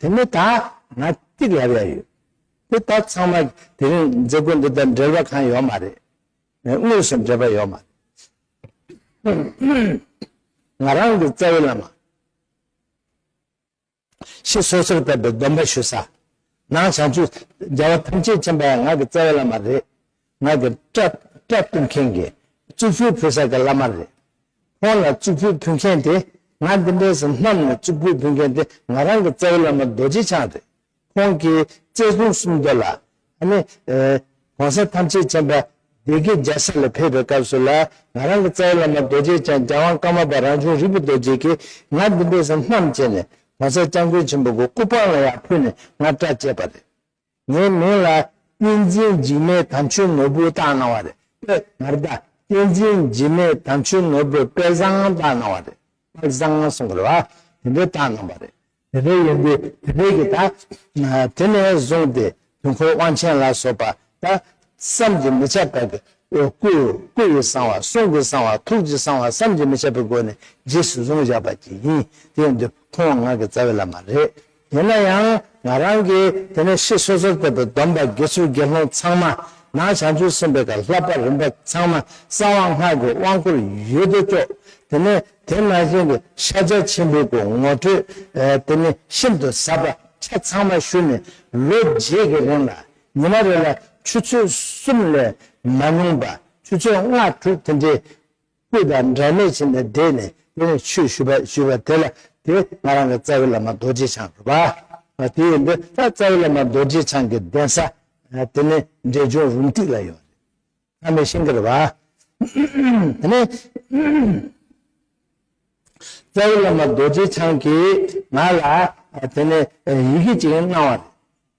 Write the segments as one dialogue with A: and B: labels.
A: དེ་ནི་ད་ང་གཅིག་ལབ་ཡ་ཡོད། དེ་ད་ཚང་མ་དེ་རིང་མཛད་སྒོ་འདི་དང་འབྲེལ་བ་གང་ཡོད་མ་རེད། དངོས་སུ་འབྲེལ་བ་ཡོད་མ་རེད། ང་རང་གི་རྩ་བའི་བླ་མ། ཞེས་སོ་སོར་བབས་པའི་སྡོམ་པ་ཞུ་ས། ནང་བྱང་ཆུབ་རྒྱལ་བ་ཐམས་ཅད་མཁྱེན་པ་ཡང་ང་གི་རྩ་བའི་བླ་མ་རེད། ང་གི་སྐྲ་བཏུང་མཁན་གྱི་གཙུག་ཕུད་ཕུལ་ས་གི་བླ་མ་རེད། ཁོང་ལ་གཙུག་ཕུད་ཕུལ་མཁན་དེ་ང་འདི་འདྲའི་ཟིན་མཚམས་ནས་གཙུག་ཕུད་ཕུལ་མཁན་དེ་ང་རང་གི་རྩ་བའི་བླ་མ་རྡོ་རྗེ་འཆང་རེད། ཁོང་གིས་བཙས་སྲུང་གསུམ་མདོ་ལ། ཨ་ནི། གོང་ས་ཐམས་ཅད་མཁྱེན་པ་སྡེ་དགེ་རྒྱལ་ས་ལ་ཕེབས་པའི་སྐབས་སུ་ལ་ང་རང་གི་རྩ་བའི་བླ་མ་རྡོ་རྗེ་འཆང་རྒྱལ་དབང་ཀརྨ་པ་རང་བྱུང་རིག་པ་རྡོ་རྗེ་ཀྱིས་ང་འདི་འདྲའི་ཟིན་མཚམས་བཅད་ནས་གོང་ས་སྐྱབས་མགོན་ཆེན་པོ་གི་སྐུ་པང་ལ་ཡང་ཕུལ་ནས་ང་སྐྲ་བཅད་པ་རེད། ངའི་མིང་ལ་བསྟན་འཛིན་འཇིགས་མེད་དམ་ཆོས་ནོར་བུ་བཏགས་གནང་བ་རེད་པེ་ངར་བདག་བསྟན་འཛིན་འཇིགས་མེད་དམ་ཆོས་ནོར་བུ་དཔལ་བཟང་བཏགས་གནང་བ་རེད་པེ་བཟང་གསུང་གི་རེད་བ་དེ་འདྲས་བཏགས་གནང་བ་རེད་དེ་འདྲས་ཡིན་དུས་དེ་འདྲས་ཀྱི་ད་དེ་ནས་བཟུང་སྟེ་དུས་འཁོར་དབང་ཆེན་ལ་སོགས་པ་ད་བསམ་གྱིས་མི་ཁྱབ་པ་གི་སྐུ་སྐུ་ཡི་གསང་བ་གསུང་གི་གསང་བ་ཐུགས་ཀྱི་གསང་བ་བསམ་གྱིས་མི་ཁྱབ་པའི་སྒོ་ནས་རྗེས་སུ་བཟུང་བཞག་པ་གྱིས་ཡིན་དེ་ཡིན་དུས་ཁོང་ང་གི་རྩ་བའི་བླ་མ་རེད། ཡིན་ན་ཡང་ང་རང་གིས་དེ་ནས་ཤི་སོ་སོར་བསྟན་པའི་སྡོམ་པ་དགེ་ཚུལ་དགེ་སློང་ཚང་མ་ནང་བྱང་ཆུབ་སེམས་དཔའི་གར་ལྷ་པ་རིམ་པ་ཚང་མ་གསང་བ་སྔགས་ཀྱི་དབང་བསྐུར་ཡུལ་དུ་སྐྱོགས་དེ་ནས་དེ་ནང་བཞིན་གྱི་ཤཱ་ཀྱ་ཆེན་པོའི་སྐུ་ངོ་སྤྲོད་དེ་ནས་ཤིན་ཏུ་ཟབ་པ་ཆ་ཚང་མ་ཞུས་ནས་ལོ་རྗེས་ཀྱི་རིང་ལ་ཉི་མ་རེ་ལ་ཆུ་ཚོད་གསུམ་ལས་མ་མྱོང་པ་ཆུ་ཚོད་ལྔ་དྲུག་དེ་འདྲའི་སྐུ་དང་འབྲལ་མེད་ཕྱིན་ནས་བསྡད་ནས་དེ་ནས་ཆོས་ཞུས་པ་ཞུས་པ་དེ་ལ་དེས་ང་རང་གི་རྩ་བའི་བླ་མ་རྡོ་རྗེ་འཆང་རུ་བ། དེ་ཡིན་དུས་ད་རྩ་བའི་བླ་མ་རྡོ་རྗེ་འཆང་གི་གདན་ས་དེ་ནི་འབྲས་ལྗོངས་རུང་ཏིག་ལ་ཡོད། ཨ་མའི་ཤིང་ཀར་བ། དེ་ནས་རྩ་བའི་བླ་མ་རྡོ་རྗེ་འཆང་གིས་ང་ལ་དེ་ནས་ཡི་གེ་ཅིག་གནང་བ་རེད།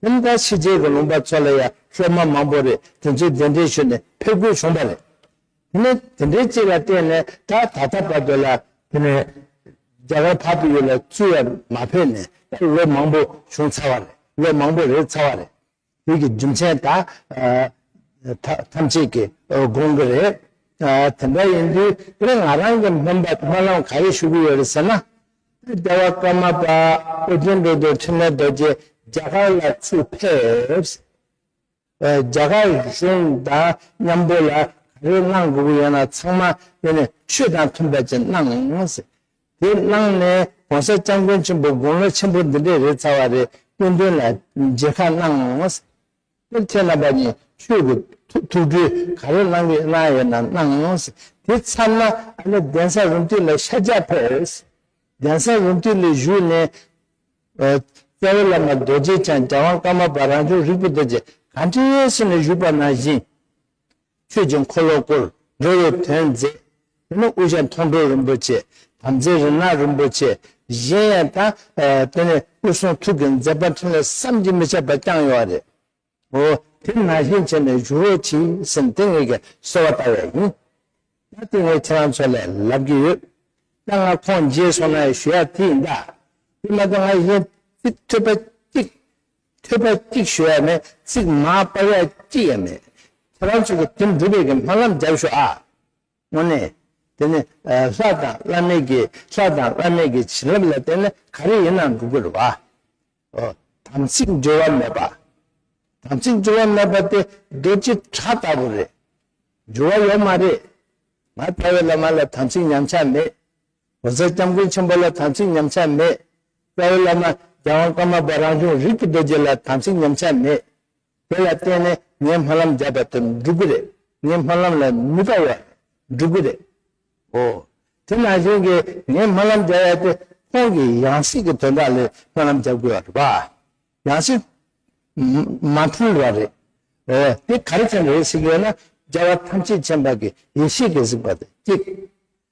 A: ཁྱིམ་བདག་ཕྱི་རྒྱལ་གྱི་ལུང་པ་ཚོ་ལ་ཡང་ཤོག་མ་མང་པོ་རེ་དེ་ཚོའི་གདན་འདྲེན་ཞུས་ནས་ཕེབས་དགོས་བྱུང་པ་རེད། དེ་ནས་དེ་འདྲའི་ཅིག་ལ་བརྟེན་ནས་ད་ད་ལྟ་བར་དུ་ལ་དེ་ནས་རྒྱ་གར་བར་དུ་ཡོད་ལ་བཙུད་ཡ་མ་ཕེབས་ནས་ད་ལོ་མང་པོ་བྱུང་ཚར་བ་རེད་ལོ་མང་པོ་རེད་ཚར་བ་རེད། དེ་གི་རྒྱུ་མཚན་ད་ཐམས་ཅད་ཀྱིས་དགོངས་ཀྱི་རེད། དེ་འདྲ་ཡིན་དུས་དེ་ང་རང་གི་སྨན་པ་སྨོན་ལམ་ག་རེ་ཞུ་གི་ཡོད་རེད་ཟེར་ན། བདེ་བ་ཀརྨ་པ་ཨོ་རྒྱན་འགྲོ་འདུལ་འཕྲིན་ལས་རྡོ་རྗེ་རྒྱ་གར་ལ་ཚུར་ཕེབས། རྒྱ་གར་གཞུང་དང་མཉམ་པོ་ལ་ག་རེ་གནང་དགོས་པོ་ཡོད་ན་ཚང་མ་ཡོང་ནས་ཆོས་དང་མཐུན་པ་ཅིག་གནང། དེ་གནང་ནས་གོང་ས་སྐྱབས་མགོན་ཆེན་པོ་དགུང་ལོ་ཆེན་པོ་འདི་འདྲས་རེད་ཚར་བ་རེད་སྐུ་མདུན་ལ་མཇལ་ཁ་གནང། དེར་ཁྱེད་རྣམ་པ་གཉིས་ཆོས་ཀྱི་ཐུགས་སྤྲུལ་ག་རེ་བླང་གིས་གནང་ཡོད་ན་གནང། དེ་མཚམས་ན་ཨ་ལེ་གདན་ས་རུ་མཐུན་ལ་ཤ་རྒྱག་ཕེབས། གདན་ས་རུ་མཐུན་ལས་བཞུགས་ནས། རྩ་བའི་བླ་མ་རྡོ་རྗེ་འཆང་རྒྱལ་དབང་ཀརྨ་པ་རང་བྱུང་རིག་པ་རྡོ་རྗེ་གངས་ཏྲེའི་སྲས་ནས་བཞུགས་པ་ནང་བཞིན། ཆོས་ཀྱི་འཁོར་ལོ་བསྐོར། འགྲོ་བའི་དོན་མཛད། དེ་ནས་དབུ་ཞྭ་མཐོང་གྲོལ་རིན་པོ་ཆེ། དམ་རྫས་རི་ནག་རིན་པོ་ཆེ། གཞན་ཡང་དང། དེ་ནས་སྐུ་གསུང་ཐུགས་ཀྱི་མཛད་པ་འཕྲིན་ལས་བསམ་གྱིས་མི་ཁྱབ་པ་བསྐྱངས་ཡོང་བ་རེད། འོ། དེ་ནང་བཞིན་བྱས་ནས་བཞུགས་རོགས་གྱིས་ཟེར་ནས་དེ་ངེད་ཀྱི་གསོལ་བ་བཏབ་ཡས་ཡིན། ད་ལྟ་ངས་ཁྱེད་རང་ཚོ་ལས་ལབ་ཀྱི་ཡོད། ད་ང་ཁོང་མཇལ་སོང་ན་ཞུ་ཡག་དེ་ཡིན་ད། དེ་མ་གཏོགས་ང་གཞན་ཚིག་ཐོས་པ་གཅིག་ཐོས་པ་གཅིག་ཞུ་ཡ་མེད་ཚིག་མ་པར་ཡ་གཅིག་ཡ་མེད་ཁྱེད་རང་ཚོ་གི་དེ་འགྲུབ་པའི་གི་སྨོན་ལམ་རྒྱབ་ཞུ་ཨ། དངོས་གནས། དེ་ནི་ལྷ་དང་བླ་མེད་ཀྱི་ལྷ་དང་བླ་མེད་ཀྱི་བྱིན་རླབས་ལ་བརྟེན་ནས་ག་རེ་ཡིན་ནའང་འགྲུབ་གི་རེད་བ། ཨོ། དམ་ཚིག་འགྲོལ་བ་མེད་པ། དམ་ཚིག་འགྲོལ་བ་མེད་པ་དེ་རྡོ་རྗེ་བྲག་ལྟ་བུ་རེད། འགྱུར་བ་ཡོད་མ་རེད། ང་ལྟ་བའི་བླ་མ་ལ་དམ་ཚིག་ཉམས་ཆག་མེད། ངོ་མཚར་སྐྱབས་མགོན་ཆེན་པོ་ལ་དམ་ཚིག་ཉམས་ཆག་མེད། རྩ་བའི་བླ་མ་རྒྱལ་དབང་ཀརྨ་པ་རང་བྱུང་རིག་གི་རྡོ་རྗེ་ལ་དམ་ཚིག་ཉམས་ཆག་མེད། དེ་ལ་བརྟེན་ནས་ངའི་སྨོན་ལམ་བརྒྱབ་པ་དེ་འགྲུབ་གི་རེད། ངའི་སྨོན་ལམ་ལ་མི་དགའ་བ་རེད་འགྲུབ་གི་རེད། ཨོ། དེ་ནང་བཞིན་གྱི་ངའི་སྨོན་ལམ་བརྒྱབ་ཡ་དེ་ཁོང་གི་ཡང་སྲིད་ཀྱི་དོན་དག་ལས་སྨོན་ལམ་བརྒྱབ་དགོས་བ་རེད་པ། ཡང་སྲིད། མ་མཐུན་བ་རེད། ཨོ། དེ་ག་རེ་ཙམ་རེད་གཟིགས་ཡོད་ན་རྒྱལ་བ་ཐམས་ཅད་ཆེན་པོ་གི་ཡེ་ཤེས་ཀྱི་གཟིགས་པ་དེ་གཅིག།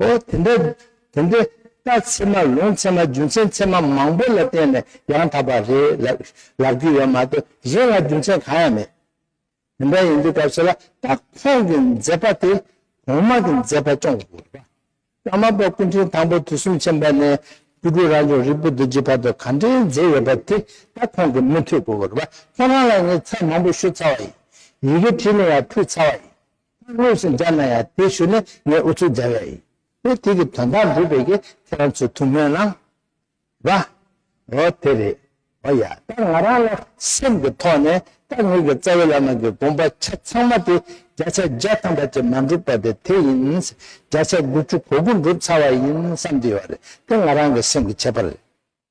A: ཨོ་དེ་འདྲ། དེ་འདྲའི་རྟ་ཚེར་མ་ལུང་ཚེར་མ་རྒྱུ་མཚན་ཚེར་མ་མང་པོ་ལ་བརྟེན་ནས་ཡང་དག་པ་རེད་ལབ་རྒྱུ་ཡོད་མ་གཏོགས་གཞན་ལ་རྒྱུ་མཚན་གང་ཡང་མེད། དེ་འདྲ་ཡིན་དུས་སྐབས་སུ་ལ་སྟག་ཁོང་གི་མཛད་པ་དེ་གོང་མ་གི་མཛད་པ་ཅུང་ལྷག་པ། ཀརྨ་པ་སྐུ་ཕྲེང་དང་པོ་དུས་གསུམ་ཆེན་པ་ནས་སྐུ་ཕྲུག་རང་བྱུང་རིག་པ་རྡོ་རྗེ་བར་དུ་ག་འདྲའི་མཛད་ཡོད་པ་དེ་སྟག་ཁོང་གི་མི་ཐུག་གོ་ར་པ་ཁོང་རང་ལ་ངས་ཚ་མང་པོ་ཞུ་ཚར་བ་ཡིན། ཡི་གེ་བྲིས་ལུང་ཡང་ཕུལ་ཚར་བ་ཡིན། ཁོས་དངོས་སུ་སྦྱར་ན་ཡང་དེའི་ཤུལ་ནས་ངས་ཨུ་ཚུགས་སྦྱར་བས་ཡིན། དེ་དུས་ཀྱི་དོན་དག་འགྲུབ་པའི་གི་ཁྱེད་རང་ཚོས་ཐུགས་སྨོན་གནང། བ། འོ་དེ་རེད། འོ་ཡ། ད་ང་རང་ལ་སེམས་ཀྱི་ཐོག་ནས་ད་ངོས་ཀྱི་རྩ་བའི་བླ་མ་གི་དགོངས་པ་ཆ་ཚང་མ་དེ་བརྒྱ་ཆ་བརྒྱ་ཐམ་པ་ཅིག་མ་འགྲུབ་པ་དེ་དེ་ཡིན། བརྒྱ་ཆ་དགུ་བཅུ་གོ་དགུ་འགྲུབ་ཚར་བ་ཡིན་བསམ་གྱི་ཡོད་རེད་དེ་ང་རང་གི་སེམས་ཀྱི་ཁྱད་པར་རེད།